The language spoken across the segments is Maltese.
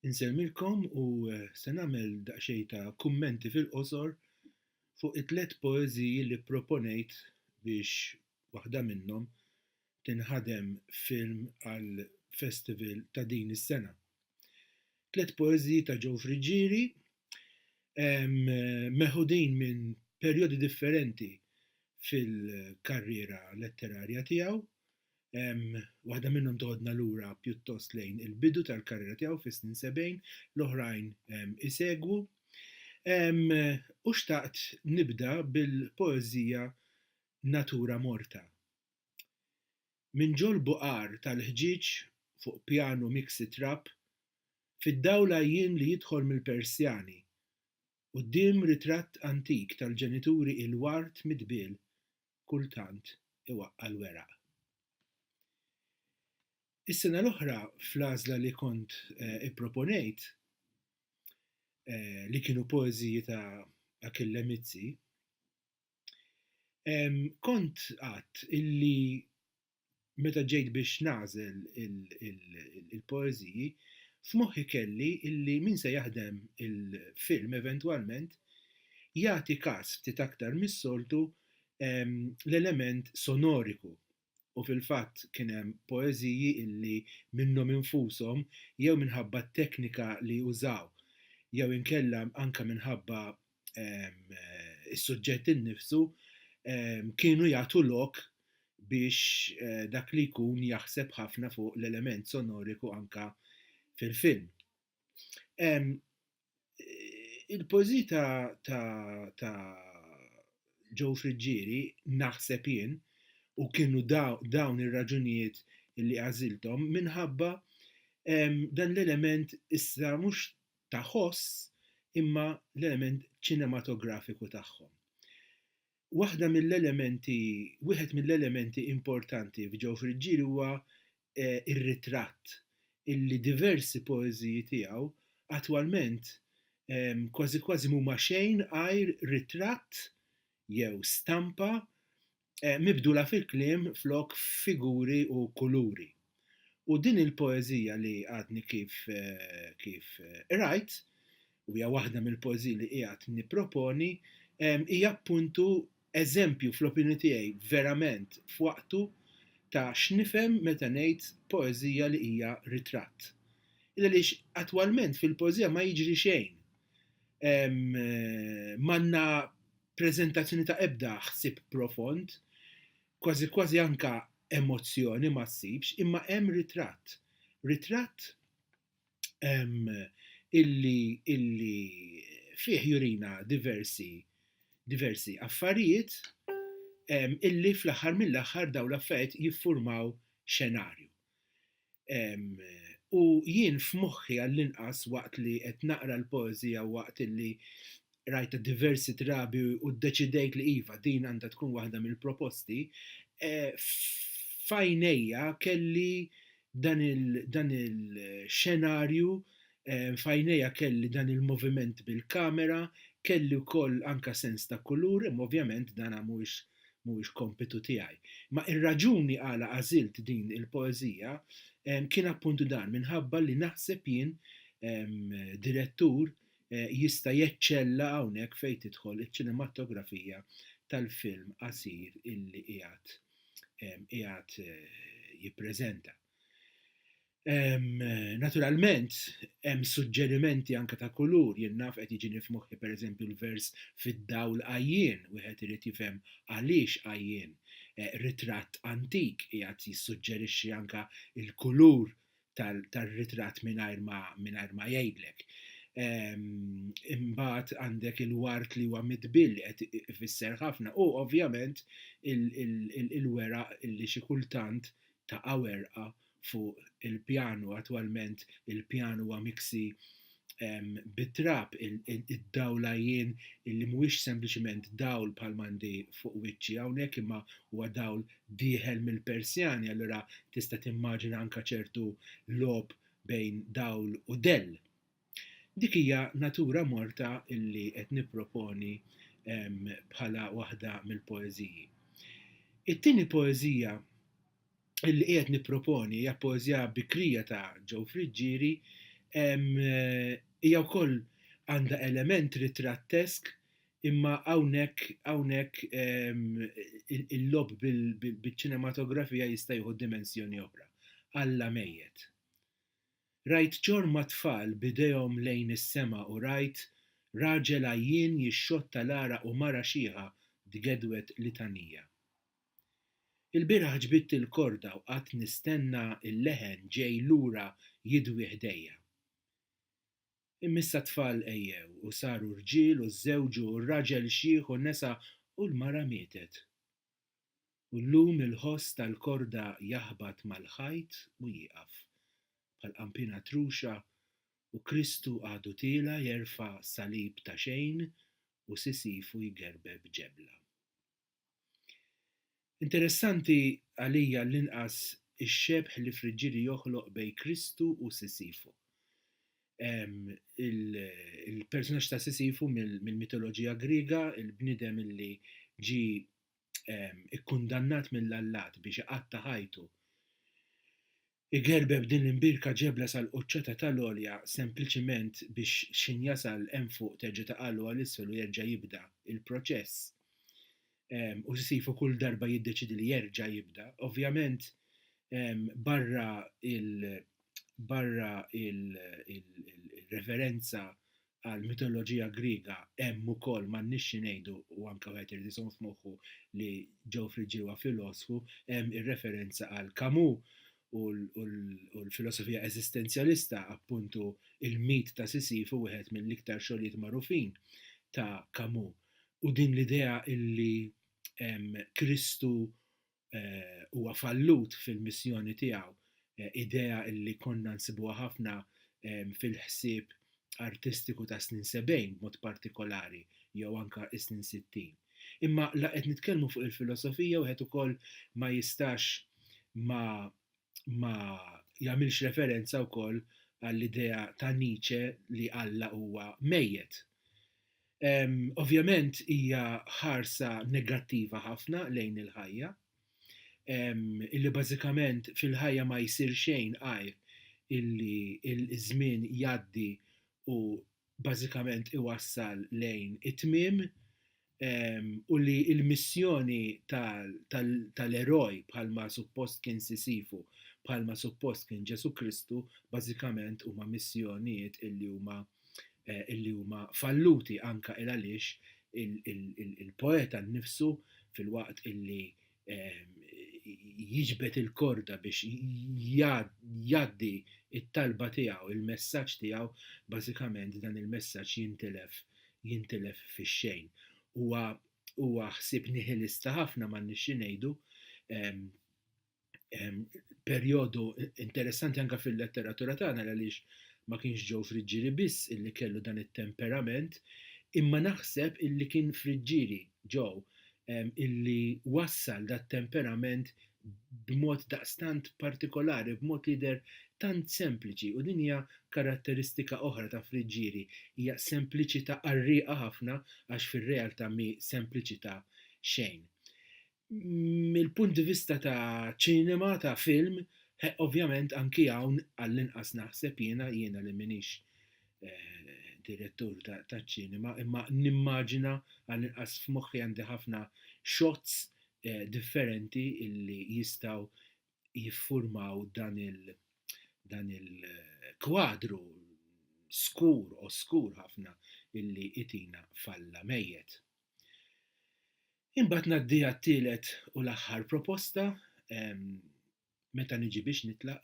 Insellmilkom u se nagħmel daqsxejn ta' kummenti fil-qosor fuq it-tliet poeżiji li pproponejt biex waħda minnhom tinħadem film għall-festival ta' din is-sena. Tliet poeżiji ta' Joe Friggieri meħudin minn perjodi differenti fil-karriera letterarja tiegħu, Waħda minnhom toħodna lura pjuttost lejn il-bidu tal-karriera tiegħu fis-snin 70, l-oħrajn isegwu. U xtaqt nibda bil-poeżija Natura Morta. Minn ġol-buqar tal-ħġieġ fuq pjanu miksi trab, fid-dawl għajjien li jidħol mill-persjani, quddiem ritratt antik tal-ġenituri il-ward mitbiel kultant iwaqqa' l-weraq. Is-sena l-oħra fl-għażla li kont eh, ipproponejt eh, li kienu poeżiji ta' Achille Mizzi, kont għadt illi meta ġejt biex nagħżel il-poeżiji, f'moħħi kelli illi min se jaħdem il-film eventwalment jagħti kas ftit aktar mis-soltu l-element sonoriku u fil-fatt kien hemm poeżiji illi minnhom infushom jew minħabba t-teknika li użaw jew inkella anke minħabba is-suġġett innifsu kienu jagħtu lok biex eh, dak li jkun jaħseb ħafna fuq l-element sonoriku anka fil-film. Eh, il-pożi ta', ta, ta Joe Friggieri naħseb jien u kienu dawn ir-raġunijiet li għażilthom minħabba dan l-element issa mhux ta' ħoss imma l-element ċinematografiku tagħhom. Waħda mill-elementi, wieħed mill-elementi importanti f'ġew friġġieli huwa eh, ir-ritratt illi diversi poeżiji tiegħu attwalment ehm, kważi kważi mhuma xejn għajr ritratt jew stampa mibdula fil-kliem flok f'figuri u kuluri. U din il-poeżija li għadni kif kif qrajt, u hija waħda mill-poeżiji li qiegħed nipproponi, hija appuntu eżempju fl-opinjoni tiegħi verament f'waqtu ta' x'nifhem meta ngħid poeżija li hija ritratt. Il għaliex attwalment fil-poeżija ma jiġri xejn. M'għandna preżentazzjoni ta' ebda ħsieb profond, kważi kważi anke emozzjoni ma ssibx, imma hemm ritratt. Ritratt ehm, illi, illi fih jurina diversi, diversi affarijiet ehm, illi fl-aħħar mill-aħħar dawn l-affarijiet jiffurmaw xenarju. U jien f'moħħi għall-inqas waqt li qed naqra l-poeżija waqt li rajta diversi drabi u ddeċidejt li iva din għandha tkun waħda mill-proposti, eh, f'għajnejja kelli dan il-xenarju, eh, f'għajnejja kelli dan il-moviment bil-kamera, kelli wkoll anke sens ta' kulur, imma ovvjament dan mhuwiex mhuwiex kompitu tiegħi. Imma ir-raġuni għala għażilt din il-poeżija kien appuntu dan minħabba li naħseb jien direttur jista' jeċċella hawnhekk fejn tidħol iċ-ċinematografija tal-film qasir illi qiegħed qiegħed jippreżenta. Naturalment, hemm suġġerimenti anke ta' kulur, jien naf qed jiġini f'moħħi pereżempju l-vers fid-dawl għajjien, wieħed irid jifhem għaliex għajjien. Eh, ritratt antik qiegħed jissuġġerixxi anke l-kulur tar-ritratt mingħajr ma mingħajr ma jgħidlek. Imbagħad għandek il-wart li huwa mitbil li qed ifisser ħafna u ovvjament il-weraq li xi kultant taqa' werqa fuq il-pjan u attwalment il-pjan huwa miksi bit-trab, id-dawl għajjien li mhuwiex sempliċement dawl bħalma għandi fuq wiċċi hawnhekk imma huwa dawl dieħel mill-persjani allura tista' timmaġina anke ċertu logħob bejn dawl u dell. Dik hija natura morta li qed nipproponi bħala waħda mill-poeżiji. It-tieni poeżija li qiegħed nipproponi hija poeżija bikrija ta' Joe Friggieri, hija wkoll għandha element ritrattesk imma hawnhekk hawnhekk il-logħob biċ-ċinematografija jista' jieħu dimensjoni oħra, Alla mejjet. Rajt ġorma tfal b'idejhom lejn is-sema u rajt raġel għajjien jixxotta l-għaraq u mara xiħa tgedwed litanija. Ilbieraħ ġbidt il-korda u qgħadt nistenna l-leħen ġej lura jidwi ħdejja. Imma issa t-tfal għejjew u saru rġiel u żżewġu u r-raġel xiħ u nesa u l-mara mietet. u llum il-ħoss tal-korda jaħbat mal-ħajt u jieqaf, bħal qanpiena truxa, u Kristu għadu tiela' jerfa' salib ta' xejn u sisifu jgerbeb ġebla. Interessanti, għalija għall-inqas, ix-xebh li Friġġieli joħloq bejn Kristu u Sisifu. Il-persunaġġ ta' Sisifu mill-mitoloġija Griega, il-bniedem li ġie ikkundannat mill-allat biex iqatta' ħajtu, igerbeb din l-imbirka ġebla sal-quċċata tal-għolja sempliċement biex x'ħin jasal hemm fuq terġa' taqgħalu għal isfel u jerġa' jibda l-proċess u Sisyfu kull darba jiddeċiedi li jerġa' jibda. Ovvjament barra l-reverenza għall-mitoloġija Griega hemm ukoll m'għandniex xi ngħidu u anke wieħed irid iżomm f'moħħu li Geoffrey ġie huwa filosfu, hemm ir-referenza għal Camus u l-filosofija eżistenzjalista, appuntu Il-Mit ta' Sisifu wieħed mill-iktar xogħlijiet magħrufin ta' Camus, u din l-idea li Kristu eh, huwa fallut fil-missjoni tiegħu, eh, idea illi konna nsibuha ħafna eh, fil-ħsieb artistiku ta' snin 70 b'mod partikolari jew anka is-snin 60. Imma la qed nitkellmu fuq il-filosofija wieħed ukoll ma jistax ma ma jagħmilx referenza wkoll għall-idea ta' Nietzsche li Alla huwa mejjet. Um, ovvjament hija ħarsa negattiva ħafna lejn il-ħajja, um, illi bażikament fil-ħajja ma jsir xejn għajr illi il-żmien jaddi u bażikament iwassal lejn it-tmiem u li l-missjoni tal-eroj bħalma suppost kien Sisifu, bħalma suppost kien Ġesù Kristu, bażikament huma missjonijiet illi huma illi huma falluti anke il għaliex il-poeta nnifsu filwaqt illi jiġbed il-korda biex jgħaddi it-talba tiegħu, il-messaġġ tiegħu, bażikament dan il-messaġġ jintilef jintilef fix-xejn. Huwa huwa ħsieb nihilista ħafna ma nixxi ngħidu perjodu interessanti anke fil-letteratura tagħna għaliex ma kienx ġew friġġieri biss illi kellu dan it-temperament, imma naħseb illi kien friġġieri Joe, illi wassal dat-temperament b'mod daqstant partikolari, b'mod li jidher tant sempliċi, u din hija karatteristika oħra ta' Friggieri, hija sempliċità qarrieqa ħafna għax fir-realtà mhi sempliċità xejn. Mill-punt di vista ta' ċinema, ta' film, ovvjament anki hawn għallinqas naħseb jiena, jiena li m'iniex direttur taċ-ċinema, imma nimmaġina għal inqas f'moħħi għandi ħafna shots differenti illi jistgħu jiffurmaw dan il dan il-kwadru skur, oskur ħafna illi itina f'Alla mejjet. Imbagħad ngħaddi għat-tielet u l-aħħar proposta, meta niġi biex nitlaq?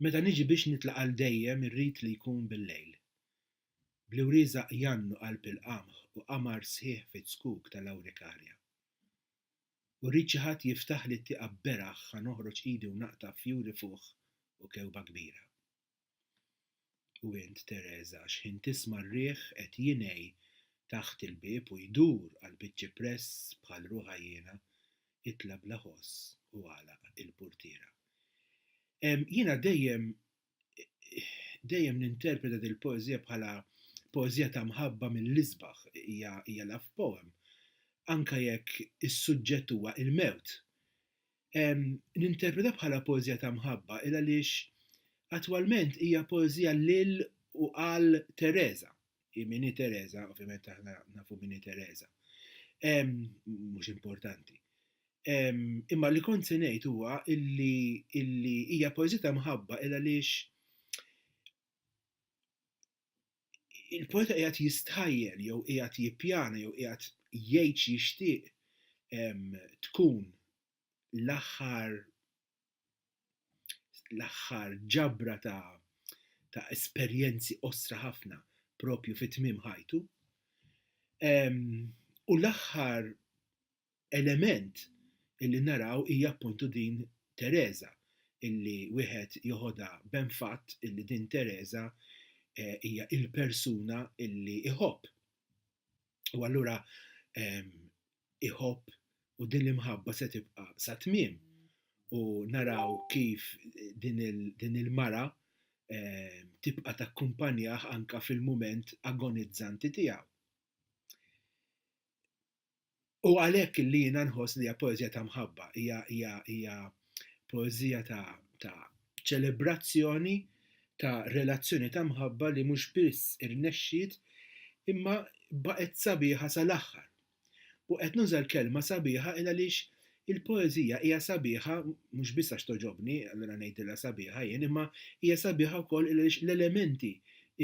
Meta niġi biex nitlaq għal dejjem irrid li jkun bil-lejl. Bl-iwrieża qjan u qalb il-qamħ u qamar sħiħ fiċ-ċkuk tal-awrikarja. U rrid xi ħadd jiftaħli t-tieqa b'beraħ ħa noħroġ idi u naqta' fjuri fuħ u kewba kbira. U int, Tereża, xħin tisma' r-riħ qed jingħi taħt il-bieb u jdur għall-biċ-ċipress bħal ruħha jiena, itla' bla ħoss u għalaq il-purtiera. Ehm, jiena dejjem, dejjem ninterpreta dil-poeżija bħala poeżija ta' mħabba mill-isbaħ, hija love poem, anke jekk is-suġġett huwa il-mewt. ninterpreta bħala poeżija ta' mħabba il għaliex attwalment hija poeżija lil u għal Teresa. Imini Teresa, ovvjament aħna nafu mini Teresa. Mhux importanti. Imma li kont se ngħid huwa illi hija poeżija ta' mħabba il għaliex il-poeta qiegħed jistħajjel jew qiegħed jippjana jew qiegħed jgħid xi jixtieq tkun l-aħħar l-aħħar ġabra ta' ta' esperjenzi qosra ħafna propju fi tmiem ħajtu. U l-aħħar element illi naraw hija appuntu din Tereża illi wieħed joħodha b'hemm fatt illi din Tereża hija il-persuna illi iħobb. U allura iħobb u din l-imħabba se tibqa' sa tmiem u naraw kif din il-mara tibqa' takkumpanjah anke fil-mument agonizzanti tiegħu. U għalhekk li jiena nħoss li hija poeżija ta' mħabba, hija hija hija poeżija ta' ta' ċelebrazzjoni ta' relazzjoni ta' mħabba li mhux biss irnexxiet imma baqgħet sabiħa sal-aħħar. U qed nuża l-kelma sabiħa il għaliex il-poeżija hija sabiħa mhux biss għax togħġobni, allura ngħidilha sabiħa jien, imma hija sabiħa wkoll il għaliex l-elementi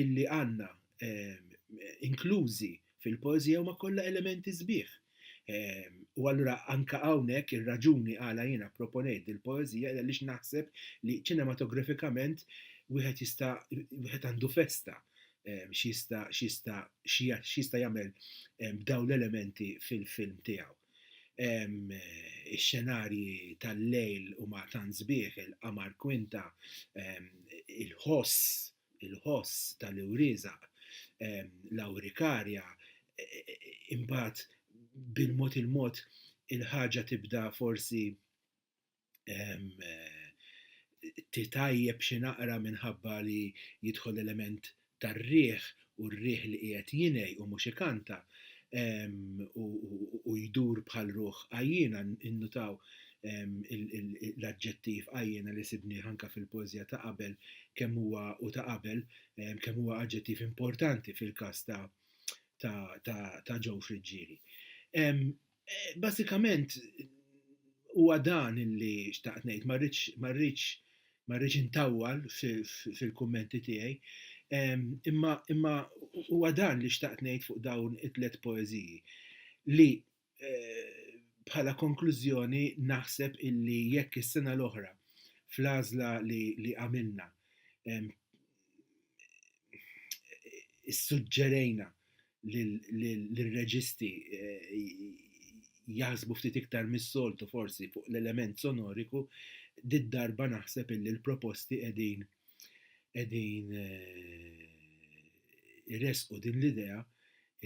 illi għandna inklużi Fil-poeżija huma kollha elementi sbieħ. U allura anke hawnhekk ir-raġuni għala jiena pproponejt dil-poeżija għaliex naħseb li ċinematografikament wieħed jista' wieħed għandu festa x'jista' x'jista' x'jista' jagħmel b'dawn l-elementi fil-film tiegħu. Ix-xenarji tal-lejl huma tant sbieħ, il-qamar kwinta, il-ħoss, il-ħoss tal-iwrieżaq, l-awrikarja, imbagħad bil-mod il-mod il-ħaġa tibda forsi titgħajjeb xi naqra minħabba li jidħol element tar-riħ u r-riħ li qiegħed jingħi u mhux ikanta u jdur bħal ruħ għajjiena, innutaw l-aġġettiv għajjena li sibni ħanka fil-poezija ta' qabel kemm huwa u ta' qabel kemm huwa aġġettiv importanti fil-każ ta' ta' ġew friġġieri. Eh, basikament huwa dan li xtaqt ngħid, ma rridx ma rridx intawwal fil-kummenti tiegħi, imma imma huwa dan li xtaqt ngħid fuq dawn it-tlet poeżiji li bħala konklużjoni naħseb illi jekk is-sena l-oħra fl-għażla li, li għamilna issuġġerejna l-reġisti eh, jaħsbu ftit iktar mis-soltu forsi fuq l-element sonoriku, did-darba naħseb illi l-proposti qegħdin qegħdin iressqu din l-idea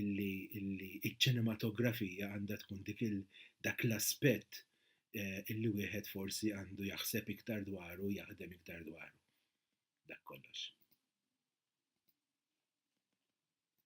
illi iċ-ċinematografija għandha tkun dik dak l-aspett eh, illi wieħed forsi għandu jaħseb iktar dwaru, jaħdem iktar dwaru. Dak kollox.